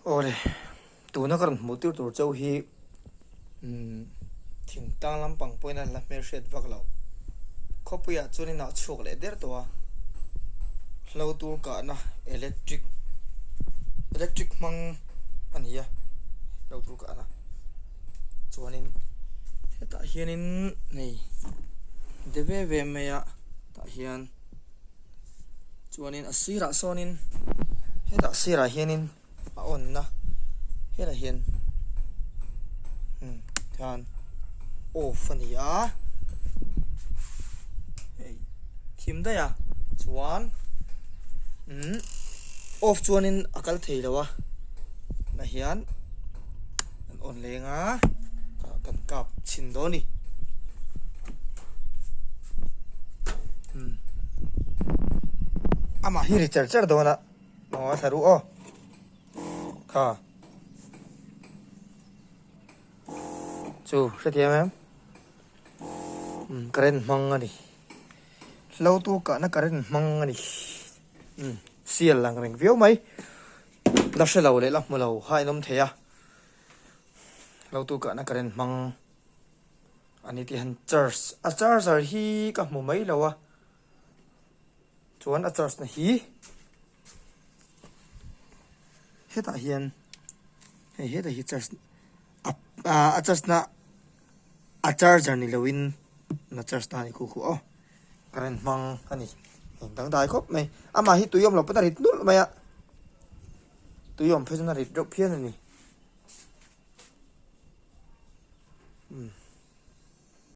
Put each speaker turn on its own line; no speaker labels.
Aw le, tuna ka rawn hmuh tir tur chauh hi thingtang lampang pawhin an la hmel hriat vak lo. Khawpuiah chuan inah chhuak leh der tawh a, hlo tur kahna electric, electric hmang a ni a, hlo tur kahna. Chuanin hetah hianin hei de ve ve maia tah hian. chuanin a sirah sawnin hetah sirah hianin a onna hetah hian hmm khan off a ni a ei thim dai a chuan hmm off chuanin a kal thei lo a na hian an on lenga kan kap chhin dawn ni hmm. ama hi ri cher cher dawn a mawa saru o kha chu hrethiam em hmm, karen mang ani lo tu ka na karen mang ani hmm, sial lang reng viau mai la hrelo le la hmulo ha inom theya Lo tu kahna ka ren hmang a ni tih han charge a charger hi ka hmu mai lo a chuan a charge na hi hetah hian hei hetah hi charge a charge na. A charger ni lo in na charge ta ni khu khu aw. Current hmang a ni. Eng dang dai khawp mai. A mah hi tuiawm lo pawn a rit nulh mai a. Tuiawm phei chuan a rit reuh phian a ni.